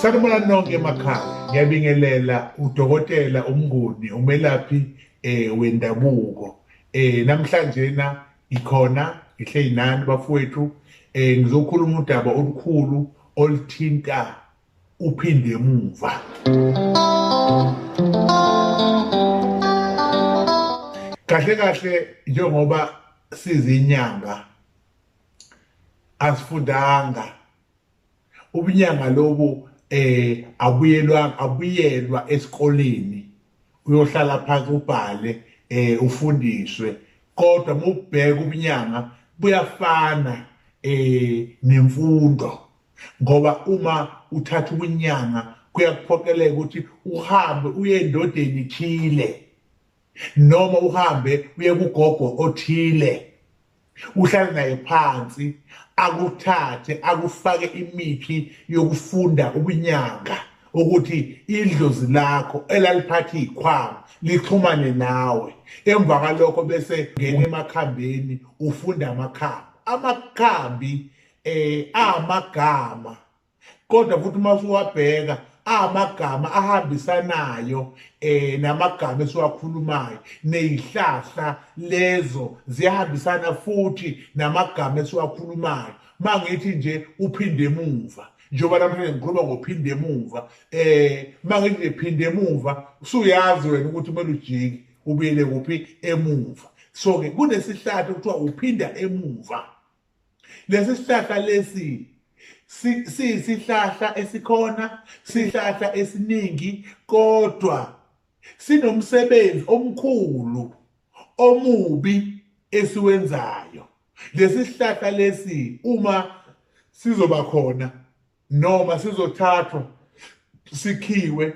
Sanibona nonke emakhaya. Ngiyabingelela udokotela umnguni umelaphi eh wendabuko. Eh namhlanje na ikhona ngihleyinani bafowethu eh ngizokhuluma udaba olukhulu olithinta uphinde emuva kahle kahle njengoba sizinyanga asifundanga ubunyanga lobu eh abuyelwa abuyelwa esikoleni uyohlala phansi ubhale eh ufundiswe kodwa mubheka ubunyanga buyafana eh nemfundo ngoba uma uthatha ukunyanga kuyakuphoqeleka ukuthi uhambe uye endodeni thile noma uhambe uye kugogo othile uhlale naye phansi akuthathe akufake imithi yokufunda ubunyanga ukuthi idlozi lakho elaliphatha ikhwama lixhumane nawe emva kwalokho bese ngena emakhambeni ufunda amakhambi amakhambi eh amagama kodwa futhi uma usuwabheka amagama ahambisanayo eh namagama esiwakhulumayo nezihlahla lezo ziyahambisana futhi namagama esiwakhulumayo mangithi nje uphinde emuva njengoba namhlanje ngikhuluma ngophinde emuva eh mangithi nje phinde emuva usuyazi wena ukuthi kumele ujiki ubuyele kuphi emuva so ke kunesihlahla kuthiwa uphinda emuva lesi sihlahla lesi siyisihlahla esikhona sihlahla esiningi kodwa sinomsebenzi omkhulu omubi esiwenzayo lesi sihlahla lesi uma sizoba khona noma sizothathwa sikhiwe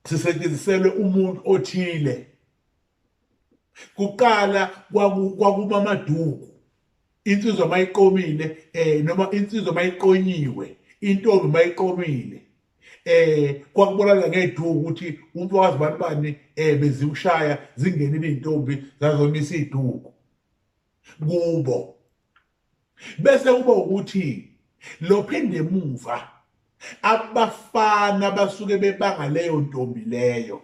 sisetshenziselwe umuntu othile kuqala kwakuma amaduku insizwa mayiqomile eh noma insizwa mayiqonyiwe intombi mayiqomile eh kwakubonakala ngeduku ukuthi umuntu wazi abantu bani eh beziwushaya zingenile izintombi zazomisa iduku kubo bese kuba ukuthi lophinde emuva abafana basuke bebanga leyo ntombi leyo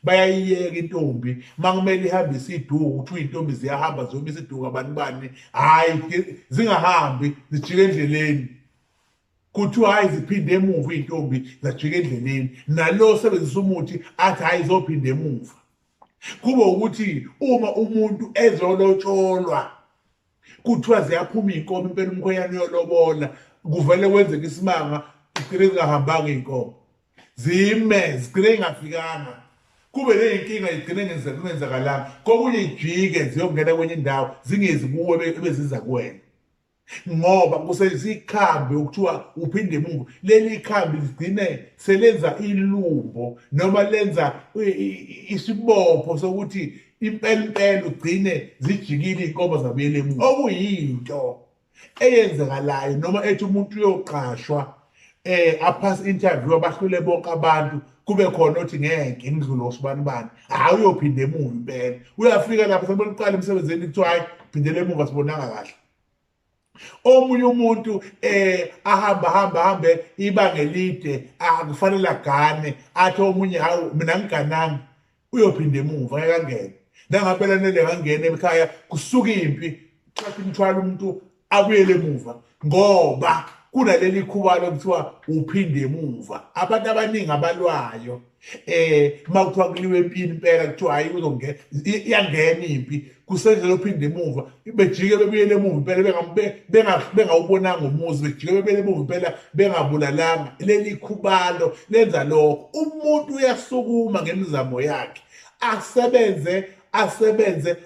bayayiyeka intombi makumele ihambe isiduku kuthiwa iy'ntombi ziyahamba ziyoma isiduku abantu bani hhayi zingahambi zijike endleleni kuthiwa hhayi ziphinde emuva iy'ntombi zajika endleleni nalo osebenzisa umuthi athi hhayi zophinda emuva kube ukuthi uma umuntu ezolotsholwa kuthiwa ziyaphuma iy'nkomo impela umkhwenyana uyolobola kuvele kwenzeka isimanga zigcine zingahambanga iy'nkomo zime zigcine ingafikanga kube ney'nkinga igcine kungenzakalanga kokunye ijike ziyongena kwenye indawo zingezi kuwe ebeziza kuwena ngoba kusebenzisa ikhambi okuthiwa uphinde emuva leli khambi ligcine selenza ilumbo noma lenza isibopho sokuthi impela impela ugcine zijikile iy'nkomo zabuyela emuva okuyinto eyenzekalayo noma ethi umuntu uyoqashwa eh aphasa interview abahlule bonke abantu kube khona othi ngeke ngidlule osibani bani hayi uyophinde emuva impela uyafika lapho seboniqala emsebenzini kuthiwa hayi phindele emuva sibonanga kahle omunye umuntu eh ahamba hamba hambe ibanga elide akufanele agane athi omunye hawu mina ngigananga uyophinda emuva ngeke angene nangampela nele ngangena ekhaya kusuka impi thatha umthwalo umuntu abuyele emuva ngoba kunaleli khuba lokuthiwa uphinde emuva abantu abaningi abalwayo eh uma kuthiwa kuliwe empini impela kuthiwa hayi uzongena iyangena impi kusendlela ophinde emuva bejike bebuyele emuva impela bengawubonanga umuzi bejike bebuyele emuva impela bengabulalanga leli khubalo lenza lokho umuntu uyasukuma ngemizamo yakhe asebenze asebenze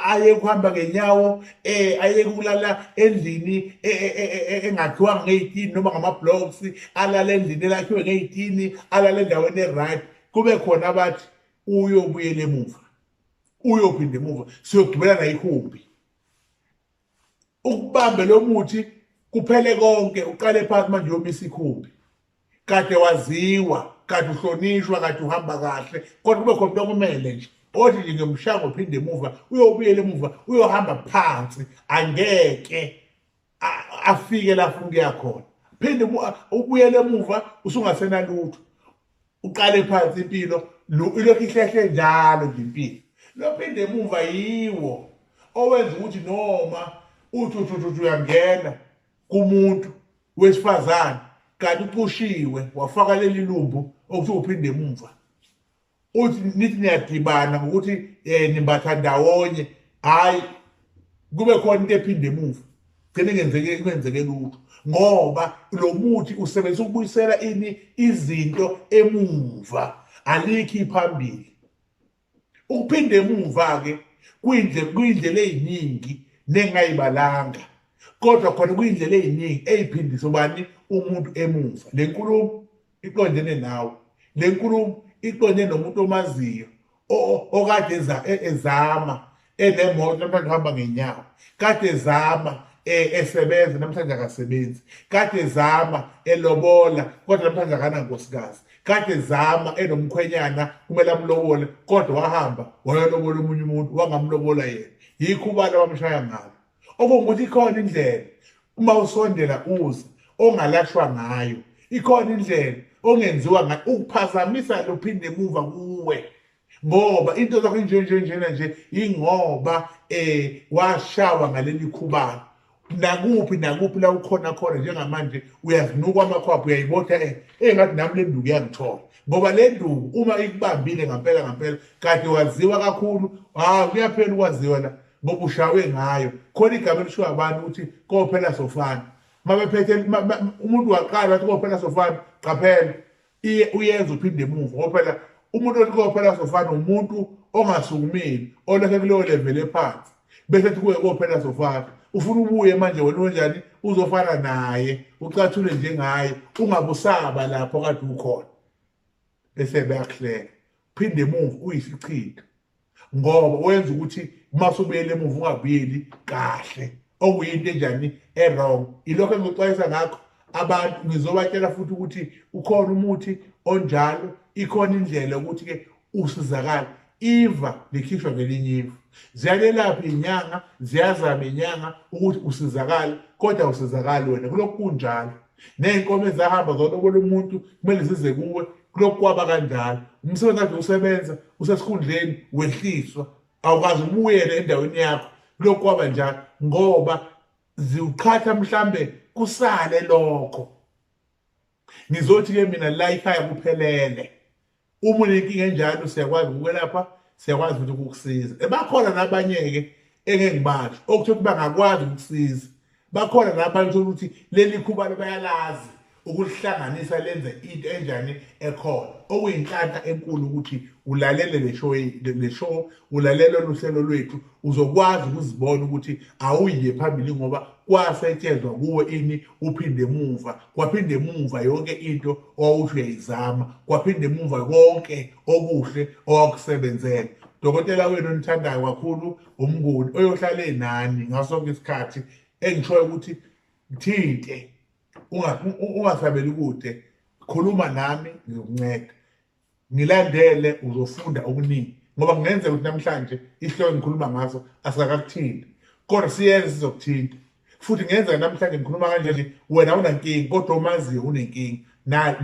ayeke ukuhamba ngenyawo eh ayeke ukulala endlini e, e, e, engakhiwanga ngeyitini noma ngama-blocks alala endlini elakhiwe ngeyitini alala endaweni e-right kube khona abathi uyobuyela emuva uyophinda emuva siyogibela nayihumbi ukubambe lo muthi kuphele konke uqale phansi manje yomisa ikhumbi kade waziwa kade uhlonishwa kade uhamba kahle kodwa kube khona okumele nje othi nje ngiyomshaya uphinde emuva uyobuyela emuva uyohamba phansi angeke afike lapho ngiya khona phinde ubuyele emuva usungasenalutho uqale phansi impilo lo- ilokhu ihlehle njalo nje impilo lophinde emuva yiwo owenza ukuthi noma uthi uthi uthi uthi uyangena kumuntu wesifazane kanti ucushiwe wafaka leli lumbu okuthi uphinde emuva uthi nithi niyadibana ngokuthi um nimbatha ndawonye hhayi kube khona into ephinde emuva gcine ngenzeke kwenzeke lutho ngoba lo muthi usebenzisa ukubuyisela ini izinto emuva alikhi phambili ukuphinde emuva ke kwindle kwindlela eziningi nengayibalanga kodwa khona kwindlela eziningi eziphindisa ubani umuntu emuva lenkulumo iqondene nawe lenkulumo iqondene nomuntu omaziyo okade e, ezama enemoto namhlanje uhamba ngenyawo kade ezama e, esebenza namhlanje akasebenzi kade ezama elobola kodwa namhlanje akanankosikazi kade ezama enomkhwenyana kumele amlobole kodwa wahamba wayolobola omunye umuntu wangamlobola yena yikho ubani abamshaya ngalo okungukuthi ikhona indlela uma usondela uze ongalashwa ngayo ikhona indlela ongenziwa ngayo ukuphazamisa lophinde emuva kuwe ngoba into zakho inje nje njena nje ingoba eh washawa ngaleli khubalo nakuphi nakuphi la ukhona khona njengamanje uyazinuka amakhwapha uyayibotha eh, engathi nami le nduku yangithola ngoba le nduku uma ikubambile ngampela ngampela kade waziwa kakhulu hawu kuyaphela ukwaziwa la bokushawe ngayo khona igama elishiwo abantu ukuthi kophela sofana mabephethe umuntu waqala wathi kophela sofana qaphela uyenza uphinde emuva kophela umuntu othi kophela sofana umuntu ongasukumile oleke kuleyo level ephansi bese ethi kuye kophela sofana ufuna ubuye manje wena wenjani uzofana naye ucathule njengaye ungabusaba lapho kade ukhona bese beyakuhleka phinde emuva uyisichitho ngoba wenza ukuthi uma usubuyele emuva ungabuyeli kahle okuyinto enjani erong ilokho engikuxwayisa ngakho abantu ngizobatshela futhi ukuthi ukhona umuthi onjalo ikhona indlela ukuthi-ke usizakale iva likhishwa ngelinye iva ziyalelapha inyanga ziyazama inyanga ukuthi usizakale kodwa usizakali wena kulokhu kunjalo ney'nkomo ezahamba zolobola umuntu kumele zize kuwe kulokhu kwaba kanjalo umsebenzi kade usebenza usesikhundleni wehliswa awukazi ubuyele endaweni yakho kulokhu kwaba njalo ngoba ziwuqhatha mhlambe kusale lokho ngizothi-ke mina la ikhaya kuphelele uma unenkinga enjalo siyakwazi ukwelapha siyakwazi futhi ukukusiza ebakhona nabanye-ke engeke ngibasho okuthe ukuthi bangakwazi ukukusiza bakhona nabanye uthola ukuthi leli khubalo bayalazi ukulihlanganisa lenze into enjani ekhona okuyinhlanhla enkulu ukuthi ulalele le show le show ulalele luhlelo lwethu uzokwazi ukuzibona ukuthi awuyiye phambili ngoba kwasetshenzwa kuwe ini uphinde emuva kwaphinde emuva yonke into owawusho uyayizama kwaphinde emuva konke okuhle owakusebenzela dokotela wenu onithandayo kakhulu umnguni oyohlale nani ngaso sonke isikhathi engishoyo ukuthi ngithinte ungasabeli kude khuluma nami ngizokunceda ngilandele uzofunda okuningi ngoba kungenzeka ukuthi namhlanje isihloko engikhuluma ngaso asikakakuthinti kodwa siyenze sizokuthinta futhi ngenzeka namhlanje ngikhuluma kanje nje wena unankinga kodwa omaziyo unenkinga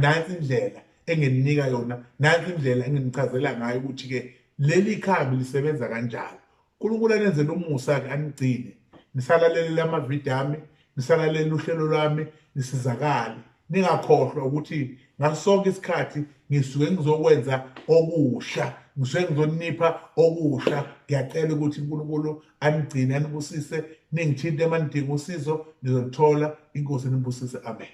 nansi indlela engeninika yona nansi indlela enginichazela ngayo ukuthi-ke leli khambi lisebenza kanjani unkulunkulu anenzela umusa-ke anigcine nisalalelele amavidiyo ami nisalalele uhlelo lwami nisizakale ningakhohlwa ukuthi ngaso sonke isikhathi ngisuke ngizokwenza okusha ngisuke ngizonipha okusha ngiyacela ukuthi uNkulunkulu anigcine anibusise ningithinte uma nidinga usizo nizolithola inkosi nibusise amen